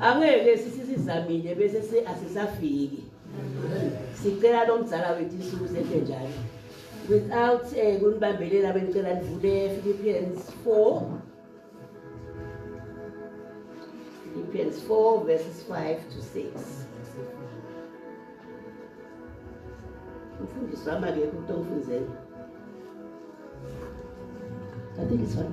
angeke sisizamile bese se asisafiki sicela lo mzala wethu insuku zethe njalo without um eh, kunibambelela benicela nivule philippians 4 philippians 4 verses 5 to 6 umfundisi wami akekho ukuthi ongifunzela I think it's fine.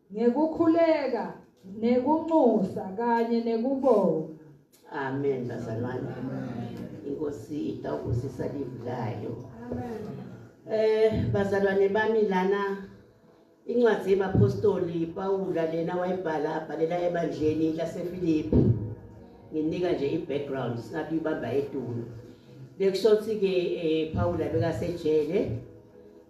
ngekukhuleka nekunxusa kanye nekubonga amen bazalwane inkosi itawubusisa livi layo eh bazalwane bami lana incwadi yebapostoli pawula lena wayibhala abhalela ebandleni lasefilipi nginika nje i-background singabe ibamba etulo bekusho ukuthi-ke um pawula bekasejele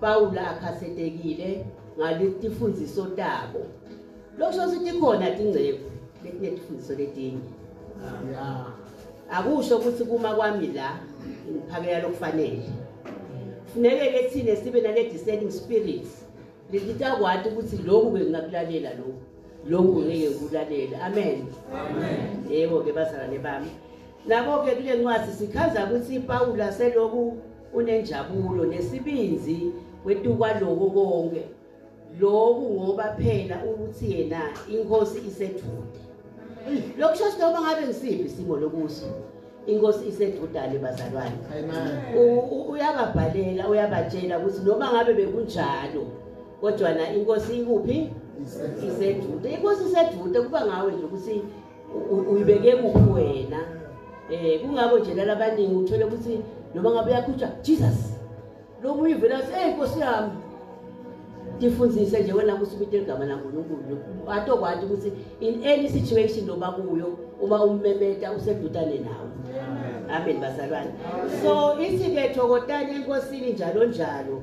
Pawula akhasetekile ngaletifundziso tabo. Lokusho ukuthi tikhona tingceku letinetifundziso letinye. Akusho ukuthi kuma kwami la ngiphakela lokufanele. Funeke ke thina sibe nale discerning spirit lelitakwati ukuthi lokhu bengingakulalela lokhu. Lokhu ngeke ngikulalela. Amen. Amen. Yebo ke bazalwane bami. Nabo ke kule ncwadi sichaza ukuthi Pawula selokhu Unenjabulo nesibinzi wetukwa lokho konke lokhu ngoba phela ukuthi yena inkosi isethude lokusho ukuthi noma ngabe ngisiphi isimo lokuso inkosi isedudane bazalwane uyababhalela uyabatshela ukuthi noma ngabe bekunjalo kodwa na inkosi ikuphi isedude inkosi isedude kuba ngawe nje ukuthi uyibeke kuphi wena um kungako nje lala abaningi uthole ukuthi noma ngabe uyakhutshwa jesus lokhu uyivela ukuthi eyi nkosi yami ndifundise nje wena ukuthi ubite igama lankulunkulu atokwati ukuthi in any situation loba kuyo uma ummemeta usedutane nawe amen bazalwane so ithi-ke thokotani enkosini njalo njalo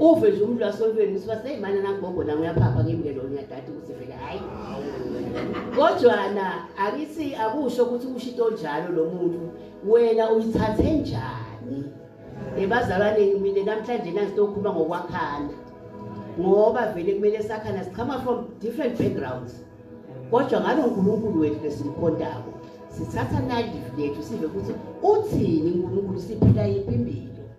uve nje umuntu wasolweni usiba seyimana nakugogo nami uyaphapha ngimngelo ngiyadada ukuthi vele hhayi kodwana akithi akusho ukuthi usho into njalo lo muntu wena uyithathe njani ebazalwaneni mina namhlanje nangitokhuluma ngokwakhana ngoba vele kumele sakhana sichama from different backgrounds kodwa ngalo nkulunkulu wethu lesimkhondako sithatha nalive lethu sive ukuthi uthini unkulunkulu siphila yiphi impilo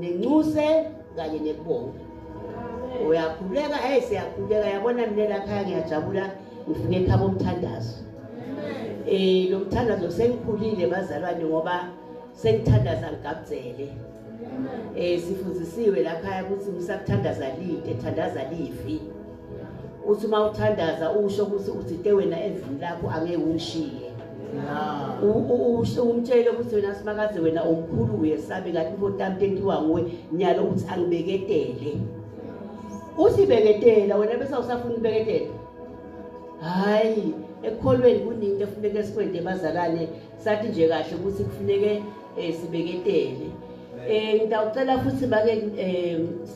nenxuse kanye nekubonga uyakhuleka hey siyakhuleka yabona mina lakhaya ngiyajabula ngifike ekhaba umthandazo eh lo mthandazo sengikhulile bazalwane ngoba sengithandaza ngigabuzele eh sifundisiwe lakhaya ukuthi ngisakuthandaza lite thandaza lifi uthi uma uthandaza usho ukuthi uthinte wena evini lakho angeke ungishiye umtshele ukuthi wena simakaze wena omkhulu uyesabe ngathi mfotami entiwa nguwe nyalo ukuthi angibeketele uthi beketela wena bese usafuna ukubeketela hhayi ekukholweni kuninto efuneke sikwende bazalane sathi nje kahle ukuthi kufuneke um sibeketele um ngitawucela futhi make um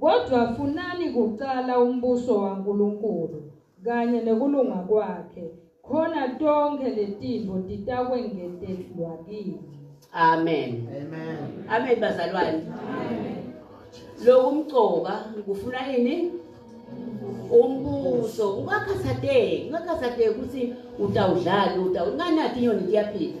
Kodwa funani kuqala umbuso waNkulunkulu kanye nekulunga kwakhe khona tonke letinto titakwengetelwa kini. Amen. Amen. Amen bazalwane. Lokhu umcoka kufuna yini? Umbuso. Ungakhathazeki, ungakhathazeki ukuthi utawudlala, utawunganathi inyoni iyaphila.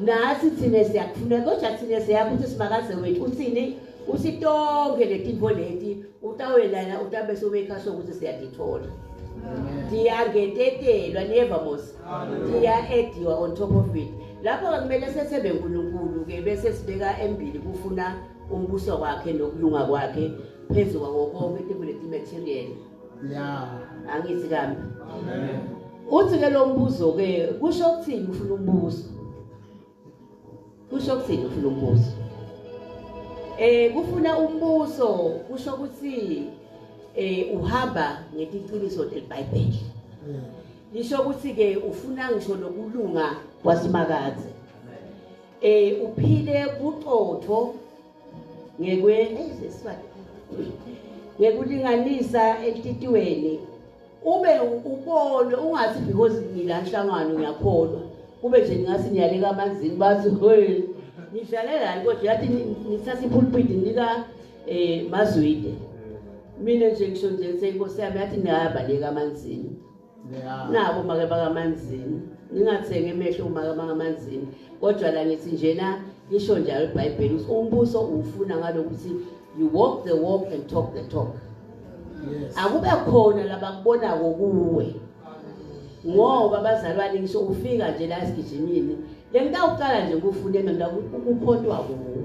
nathi thina siyakufuna kodwa thina siyazi ukuthi simakaze wethu uthini usitonke letinto leti utawelana utabe sobekha sokuthi siyadithola ndiyangetetelwa niyeva mos ndiya-ediwa on top of it lapho ke kumele sethembe nkulunkulu ke bese sibeka embili kufuna umbuso wakhe nokulunga kwakhe phezu kwako konke tibuleti material ya angithi kambi uthi ke lo mbuzo ke kusho ukuthini ufuna umbuzo kusho ukuthini ufuna umbuzo eh kufuna umbuzo kusho ukuthi eh uhamba ngetiqiniso delibhayibheli lisho ukuthi ke ufuna ngisho nokulunga kwasimakaze eh uphile buqotho ngekwe ngekulinganisa ekutitiweni ube ubonwe ungathi because ngila nhlangano ngiyakholwa kube nje ngathi ngiyaleka amanzini bathi hey ngidlale lani kodwa yathi ngithatha ipulpit nika eh mazwide mina nje ngisho nje senkosi yami yathi ngiyabaleka amanzini nabo make bakamanzini ningathengi emehlo umaka bakamanzini kodwa la ngithi njena lisho njalo ibhayibheli ukuthi umbuso uwufuna ngalokuthi you walk the walk and talk the talk akube khona labakubona kokuwe ngoba bazalwane ngisho ufika nje la esigijimini lengitawuqala nje kufuna mina ngakuphontwa kuwe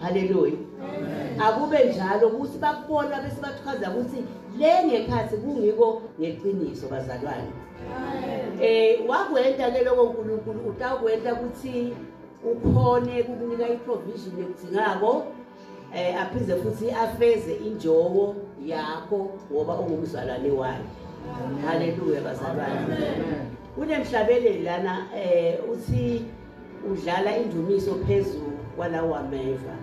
haleluya akube njalo ukuthi bakubona bese bachaza ukuthi le ngekhathi kungiko ngeqiniso bazalwane eh wakwenta ke lokho uNkulunkulu utakwenta ukuthi ukhone kukunika iprovision ekudingako eh aphinde futhi afeze injongo yakho ngoba ungumzalwane wakhe haleluya bazalwane kunemhlabeleli lana eh uthi Udlala indumiso phezu kwalawo ameva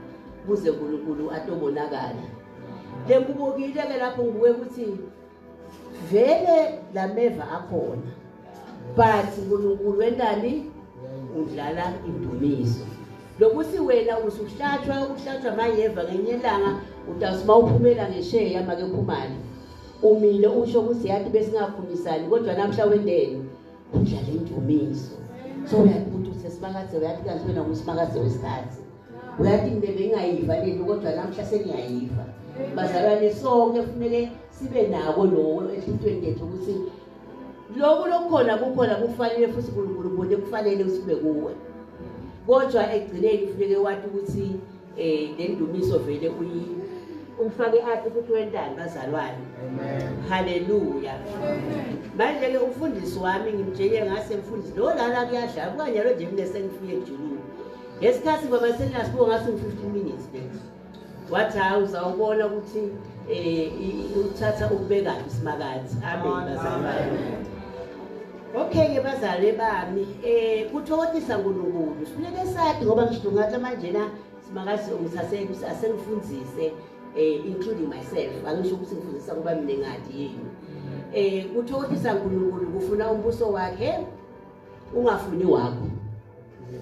kuze uNkulunkulu atobonakala. Lekubukile ke lapho ngibuke ukuthi vele lameva akhona. But uNkulunkulu wentani udlala indumiso. Lokuthi wena usuhlatshwa ukuhlatshwa mayeva ngenye ilanga utasima uphumela ngesheya make phumani. Umile usho ukuthi yathi besingakhulumisani kodwa namhla wendeni. udlala indumiso so uyakubuthi usesimakaze uyathi kanti wena ngusimakaze wesikhathi uyathi mina bengingayiva lento kodwa namhla sengiyayiva bazalwane sonke kufuneke sibe nako loko enhlitweni yethu ukuthi loku lokukhona kukhona kufanele futhi unkulunkulu bona kufanele sibe kuwe kodwa ekugcineni kufuneke wathi ukuthi eh nendumiso vele uyi ufake aphi ukuthi wentani bazalwane haleluya manje ke umfundisi wami ngimtshele ngase mfundisi lo lana kuyadla kukanyalo nje mina sengifike ejululu ngesikhathi ngoba senginasibuko ngathi ngi-15 minutes ke wathi hawu uzawubona ukuthi um uthatha ukubekaphi isimakathi amen bazalwane Okay-ke bazali bami um eh, kuthokothisa nkulunkulu sifuneke sathi ngoba ngisho ngathi manjena simakazi ngisaseke asengifundise um including myself angisho ukuthi ngifundisa kuba mina ngathi yini um kuthokothisa nkulunkulu kufuna umbuso wakhe ungafuni wakho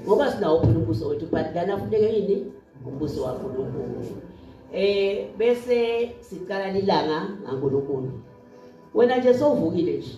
ngoba sinawo phela umbuso wethu but lana funeke yini umbuso wankulunkulu um bese siqala lilanga ngankulunkulu wena nje sowuvukile nje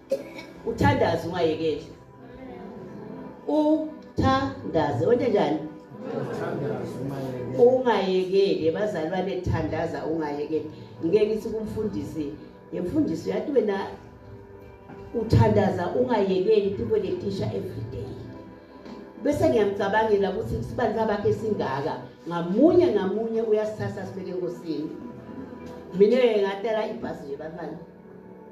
uthandaze ungayekeli uthandaze wena njani ungayekeli bazalwane thandaza ungayekeli ngeke ngithi kumfundisi yemfundisi uyathi wena uthandaza ungayekeli people they teacher every day bese ngiyamcabangela ukuthi isibani sabakhe esingaka ngamunye ngamunye uyasithatha sibeke enkosini mina ngatela ibhasi nje bafana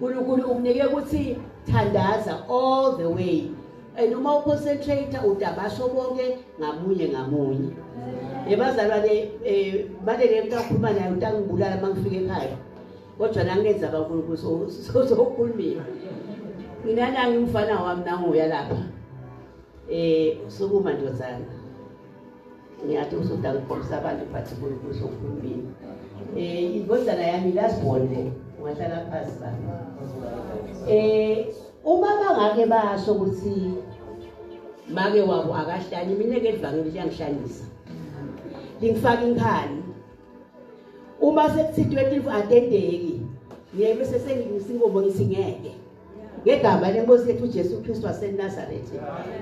uNkulunkulu ukunike ukuthi thandaza all the way and uma uconcentrate udabasho konke ngamunye ngamunye ebazalwane eh, manje ke mntakhuluma naye utangibulala uma ngifika ekhaya kodwa nangenza kakhulukhulu sozokhulumile mina nangi umfana wami nanguya lapha um sukuma ndozana ngiyathi usuda ngikhombisa abantu but kuzo uhulumeni um eh, indodana yami last born le ungahlala phasi ba um eh, uma bangake basho ukuthi make wabo akahlanye mina ke livangeli liyangihlanyisa lingifaka inkhani uma sekuthithwe tivu atendeki ngiye bese sengingisa inkomo ngithi ngeke ngegama lenkosi yethu uJesu Kristu waseNazaretha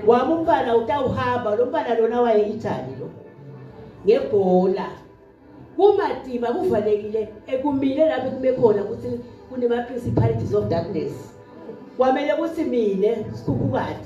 wami umfana utawuhamba lo mfana lona waye Italy lo ngebhola kumadiba kuvalekile ekumile lapho kume khona ukuthi kunema principalities of darkness kwamele ukuthi mina sikhuphukade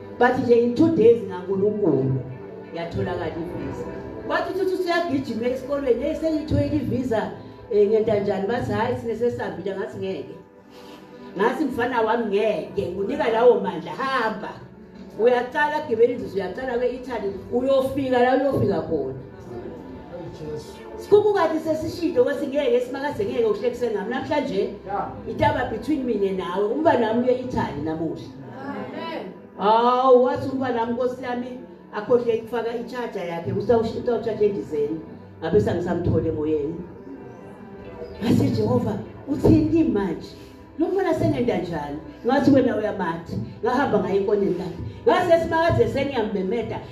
but nje in two days ngankulunkulu yatholakala ivisa bathi uthi usuyagijima esikolweni eyi sengithoyile ivisa um eh, ngenta njani bathi hhayi sine sesambile ngathi ngeke ngathi mfana wami ngeke ngunika lawo mandla hamba uyaqala gibela inzuzo uyaqala kwe-italy uyofika la uyofika khona sikubukati sesishilo kwesi ngeke simakaze ngeke uhlekise nami namhlanje itaba between mina nawe umba nami uye-italy namuhla hawu wathi umfana wami nkosi yami akhohle ukufaka i-charger yakhe utawutshaja endizeni ngabe sangisamthole emoyeni ngase jehova uthini kimi manje lo mfana sengenda njani ngathi wena uyamatha ngahamba ngaye ekoneni lakhe ngase simakaze sengiyambemeda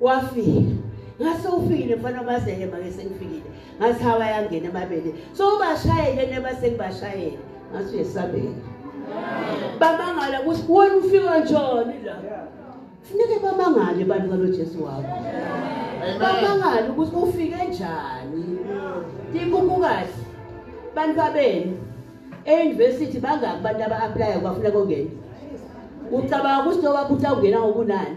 wafika ngase ufikile mfana bazeke make sengifikile ngathi hawa yangena emabele so ubashayele neba sengibashayele ngathi uyesabela bamangala ukuthi wena ufika njani la funeke bamangale abantu kalojesu wakho bamangale ukuthi ufike njani ikukukahle bantu babenu e-university bangaki abantu aba-aplaya kubafuna kongena ucabanga ukuthi nobabuthi awungena ngokunani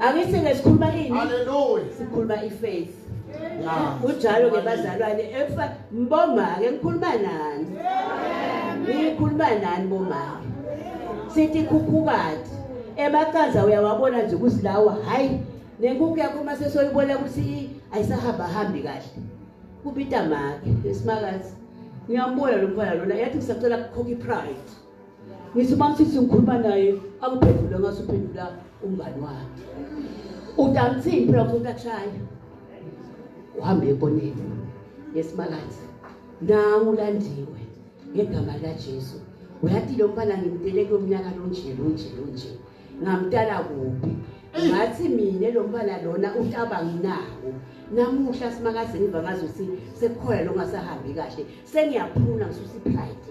angithi ngesikhuluma ini haleluya sikhuluma ifaith kunjalo ke bazalwane efa mboma ke ngikhuluma nani ngikhuluma nani boma sithi khukhukati emacaza uyawabona nje kusilawa hayi nenkukhu yakho uma sesoyibona ukuthi ayisahamba hambi kahle kubita make esimakazi ngiyambona lo mfana lona yathi ngisacela kukhokha ipride ngisho uma usisi ngikhuluma naye akuphendule ngaso uphendula umngani wakhe udansini phela umuntu akushaya uhambe ekoneni yesimakathi nangu ulandiwe ngegama lajesu uyathi lo mfana ngimdele kulomnyaka lonje lonje lonje ngamdala kuphi ngathi mina lo mfana lona utaba nginawo namuhla simakazi ngiva ngazi ukuthi sekukhona longasahambi kahle sengiyaphuna ngisusa ipride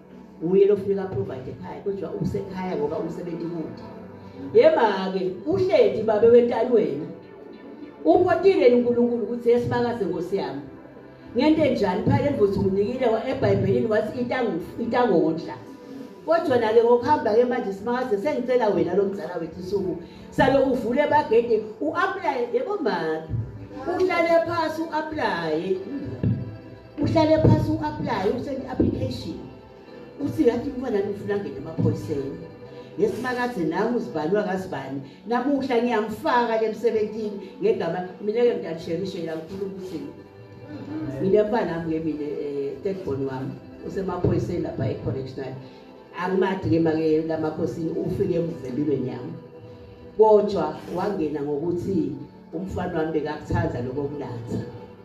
uye lofuneka provide ekhaya kodwa usekhaya ngoba umsebenzi kude yema-ke uhleti babe wentani wena upotile unkulunkulu ukuthi yesibakaze nkosi yami ngento enjani phela emvuthi umnikile ebhayibhelini wathi itangondla kodwa nake ngokuhamba-ke manje simakaze sengicela wena lo mzala wethu isuku salo uvule bagede u-aplaye yebo maki uhlale phasi u-aplaye uhlale phasi u-aplaye useni application uthi ngathi umfana nifuna ngene emaphoyiseni ngesimakaze nami uzibalwa kazibani namuhla ngiyamfaka ke emsebenzini ngegama mina ke ngidalishelishe la ngikhuluma ukuthi mina mfana wami ke mina eh, third born wami usemaphoyiseni lapha e-correctional angimadi ke make lamakhosini ufike emvembimeni yami kodwa wangena ngokuthi umfana wami bekakuthanda lokho kunatha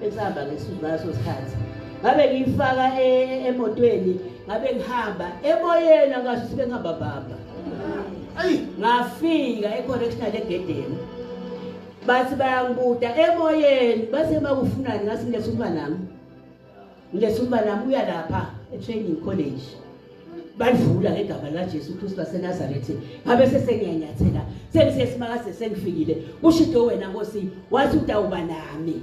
besihamba ngeso sikhathi ngabe ngiyifaka e-, emotweni ngabe ngihamba emoyeni angasho sibe ngihamba bamba ayi ngafika e-correctional egedeni bathi bayangibuda emoyeni basebakufunani ngathi ngilethumba nami Ngesuku nami uya lapha eTraining College. Balivula ngegama laJesu Kristu waseNazaretha. Ngabe sesengiyanyathela. Sengisesimakaze sengifikile. Ushido wena Nkosi, wathi utawuba nami.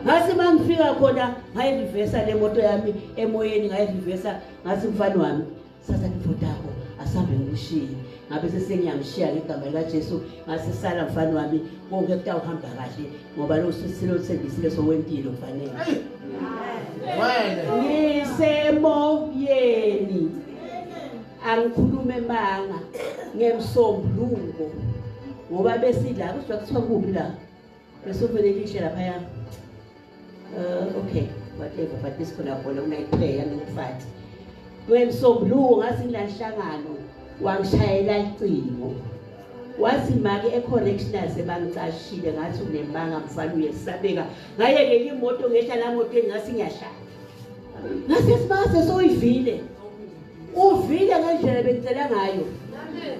Ngase mangifika khona ngayivivesa lemoto yami emoyeni ngayivivesa ngase mfana wami. sasa nifundako asambe ngimshiye ngabe sesengiyamshiya ngegama likajesu ngasesala mfana wami konke kutawuhamba kahle ngoba losisile othembisile sowempilo kufanele ngisemoyeni angikhulume manga ngemsombuluko ngoba besidla kuzwa kuthiwa kubi la Ngisuvele ngishe lapha ya. Uh, okay, whatever, but this khona khona unayiplay yangifati. Ngwemsombuluko ngathi ngilanhlangano wangishayela icingo. Wathi make ecorrectional sebangicashile ngathi unembanga mfana uyesabeka. Ngaye ke imoto ngehla la moto engathi ngiyahlala. Ngase sibase soyivile. Uvile ngendlela bengicela ngayo. Amen.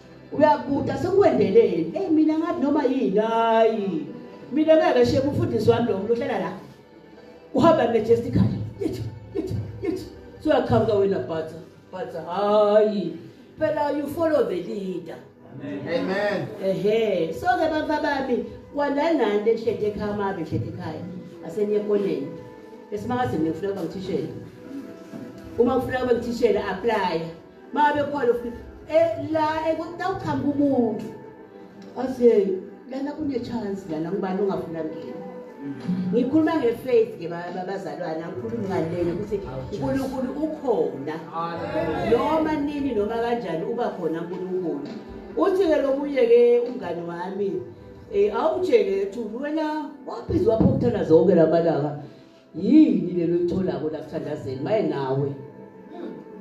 uyakubuda sekwendeleni eyi mina ngathi noma yini hayi mina ngeke sheke umfundisi wami lo muntu ohlala la uhamba majestically yithi yithi yithi soyaqhamuka wena bhatha bhatha hayi phela you follow the leader amen ehe so ke bantwa bami kwandanani enhlete ekhaya mabe enhlete ekhaya aseniye ekoneni esimangazini ngifuna ukuba ngithishela uma ufuna ukuba ngithishela aplaya babe khona futhi eh, la ekutawuqhamuka umuntu ase lana kune chance lana ngubani ongafuna ngena ngikhuluma ngefaith ke bazalwane angikhulumi ngalena ukuthi uNkulunkulu ukhona noma nini noma kanjani uba khona uNkulunkulu uthi ke lomunye ke umngane wami eh awutshele ukuthi wena waphizwa phokuthola zonke lamalanga yini lelo litholako lakuthandazeni maye nawe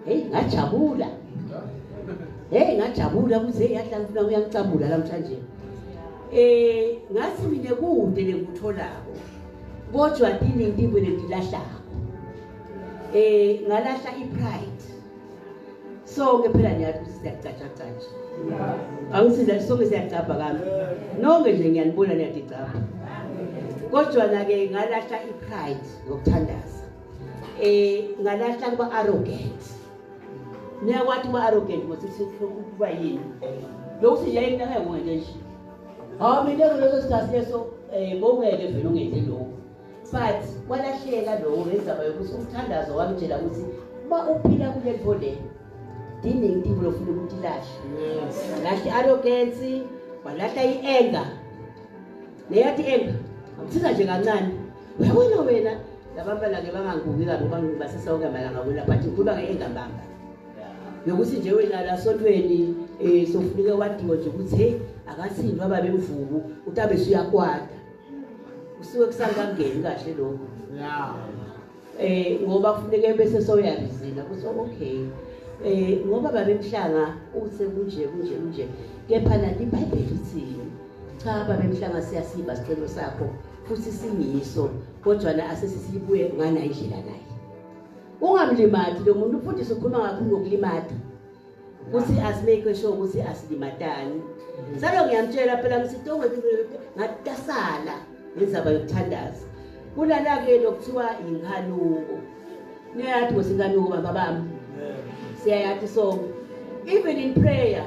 heyi ngajabula heyi ngajabula kuze yadla ngifuna uyangicabula namhlanje eh ngathi mina kude lengikutholako kodwa dini intibwe lengilahlako eh ngalahla ipride sonke phela niyazi ukuthi siyacatsha catsha angisinda sonke siyacabha kami nonke nje ngiyanibona niyadicabha kodwa-na-ke ngalahla i-pride ngokuthandaza um ngalahla kuba arrogant niyakwathi uba arrogant mosekuba yini lokhu sithi yayinakayongenje nje hawu mina kuleso sikhathi leso um bowungeke vele ungenze lokhu but walahleka lowo ngezaba yokuthi umthandazo wamtshela ukuthi uma uphila kule nto le diningi intimbo lofuna ukuthi ilahle walahla i-arogensi walahla i-enga neyathi enga amsiza nje kancane uyabona wena labantwana-ke banganguki kabi uba basesawuke malanga wena but ngikhuluma nge-engambamba yokuthi nje wena lasontweni um eh, sofunike wadiwe nje ukuthi heyi akathini wababemvuku uthi abesuyakwada kusuke kusangangeni kahle lokho yeah eh ngoba kufuneka bese soyarizila kuthi okay eh ngoba babemhlanga uthe kunje kunje kunje kepha nani iBhayibheli lithini cha babemhlanga siyasiba sicelo sakho futhi singiso kodwa na asesisibuye ngana indlela naye ungamlimati lo muntu ufundisa ukhuluma ngakho ngokulimata kuthi asimake sure ukuthi asilimatani salo ngiyamtshela phela ngisitongweatasala ngezaba yokuthandaza kulala-ke lokuthiwa yinkanuko niyayathi ngothi inkanuko baba bami siyayathi so even in prayer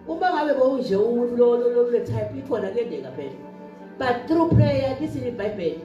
uma ngabe bowunje umuntu lolo lolo type ikhona kuyendeka phela but through prayer lithini ibhayibheli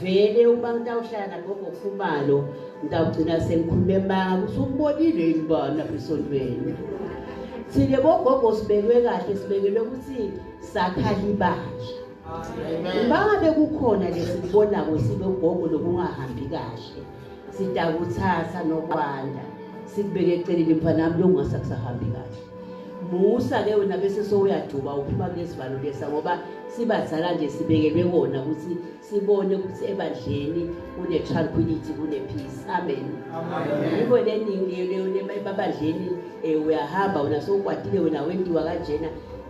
vele uma ngitawuhlala nagogo khumalo ngitawugcina sengikhulume manga ukuthi ukubonile yini uba lapha esontweni thina bogogo sibekwe kahle sibekelwe ukuthi sakhala ibandla uma ngabe kukhona lesikubonayo sibe ugogo lokungahambi kahle sitakuthatha nokwanda sikubeke eceleni mfanami lokungasakusahambi kahle musa ke wena bese sowuyajuba uphuma kulesivalo lesa ngoba sibazala nje sibekelwe kona ukuthi sibone ukuthi ebandleni kune-tranquility kune-peace amen yiko leningebabandleni um eh, uyahamba wena sowukwatile wena wendiwa kanjena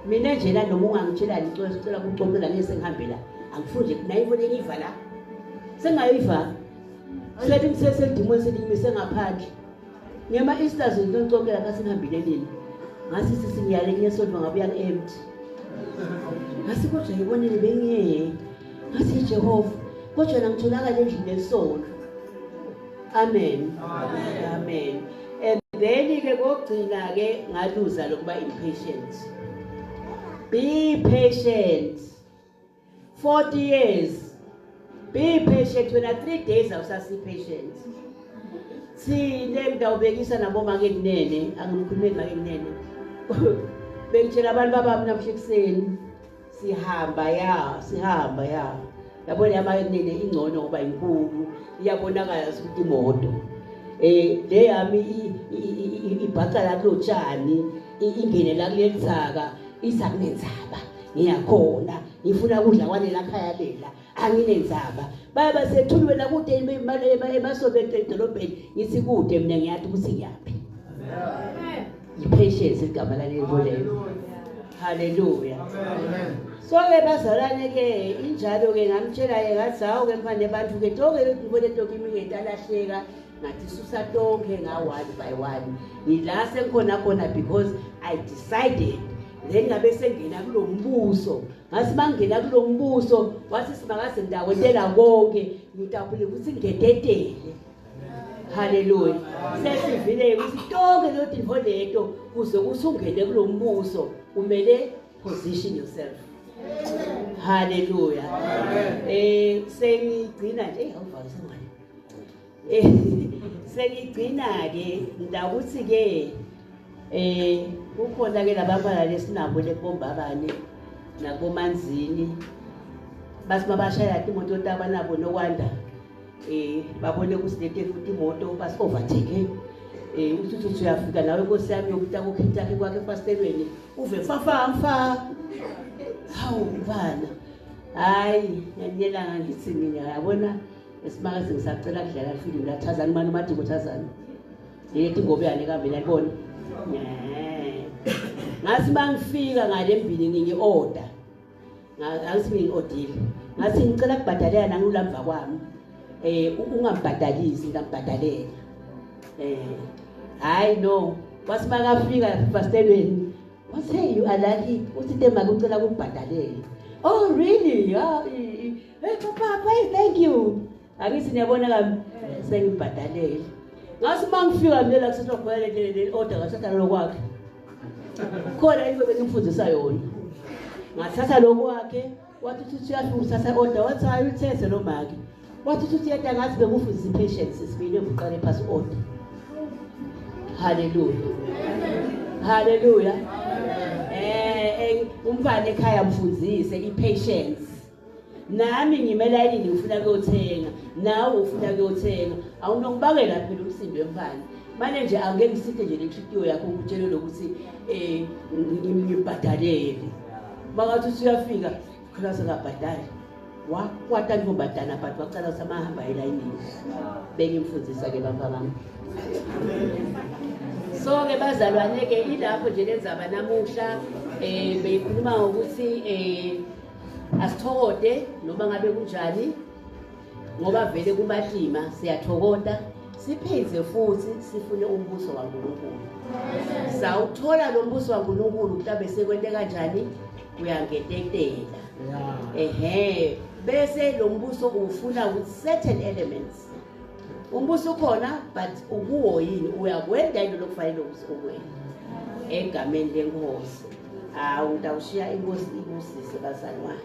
mina njena noma ungangitshelani icela sicela kucocela ngeke sengihambela angifuni nje nayiko lengiva la sengayiva sethi ngisesedimweni selimise ngaphandle Ngema Easter zonke konke lapha sinihambile nini? Ngasi sisinyale kunye sonto ngabuya empty. Ngasi kodwa yibonile bengiyeke. Ngasi Jehova kodwa nangitholakala endlini esonto. Amen. Amen. Amen. And then ke kokugcina ke ngaluza lokuba impatient. Be patient. 40 years be patient wena 3 days awusasi patient sine ngidawubekisa nabo make kunene angimkhulumeli make kunene bengitshela abantu babami namhla ekuseni sihamba ya sihamba ya yabona yamake kunene ingcono ngoba inkulu iyabonakala ukuthi imoto eh le yami ibhaca la kulotshani ingene la kulelithaka Isa kunenzaba ngiyakhona ngifuna ukudla kwalela khaya lela anginenzaba baba sethuli wena kude emasobento edolobheni ngithi kude mina ngiyathi ukuthi ngiyaphi yipheshezi igama lalento lelo haleluya so-ke bazalwane-ke injalo-ke ngamtshela-ke ngathi hawu-ke mfane bantu-ke toke ngibone ntoke imingeti alahleka ngathi susa tonke nga one by one ngila sengikhona khona because i decided then ngabe sengena kulo mbuso ngasi bangena kulo mbuso wathi simakaze ngidakotela konke ngidabule ukuthi ngededele haleluya sesivile ukuthi tonke leyo dinho leto kuze kuthi ungene kulo mbuso kumele position yourself haleluya um sengigcina nje awuvakisengayo eh, sengigcina-ke ndakuthi-ke eh kukhona ke labafana lesinabo lebombabane nakomanzini bathi babashaya imoto yotaba nabo nokwanda eh babone ukuthi lete futhi imoto basi overtake eh uthi uthi uyafika nawe inkosi yami yokuta kokhithi yakhe kwakhe efastelweni uve fafa mfa hawu bana hayi ngiyela ngithi mina yabona esimaka sengisacela kudlala lifilimu lathazani mani umadiko thazani yethi ngobe yale kambe nalibona ngathi uma ngifika ngale mbini ngingi-oda ngathi ngingi-odile ngathi ngicela kubhadalela nangilulamva kwami um ungambhadalisi ngingambhadalela um eh, hhayi no wathi uma kafika fastelweni wathi hey you are lucky uthi te make ucela kubhadalela oh really hey papa hey thank you angithi niyabona kami sengibhadalele ngathi uma ngifika mina la kusasa kubhele le order ngathatha lokwakhe khona into bengimfundisa yona ngathatha lokwakhe wathi uthi uyafika uthatha order wathi hayi uthethe lo maki wathi uthi uyeda ngathi bekufundisa i-patience sibili ebuqale phasi order haleluya haleluya eh, eh umfana ekhaya mfundise i-patience nami ngime layinini ngifuna kuyothenga nawe ufuna kuyothenga awunokubakela phela umsindo wemfana mane nje angeke ngisithe nje nenhlikiyo yakho ukutshele lokuthi um ngibhadalele makathi usuyafika khona sengabhadali wakwata ntombadana but wacala samahamba elayinini bengimfundisa-ke bamva bami so-ke bazalwane-ke ilapho nje lenzaba namuhla um beyikhuluma ngokuthi um asithokode noma ngabe kunjani ngoba vele kubatima siyathokota siphinde futhi sifune umbuso waNkulunkulu sawuthola lo mbuso waNkulunkulu kutabe sekwente kanjani uyangetetela ehe bese lo mbuso uwufuna with certain elements umbuso ukhona but ukuwo yini uyakwenda into lokufanele ukuzokwenda egameni lenkosi hawu ngitawushiya inkosi ibusise bazali wami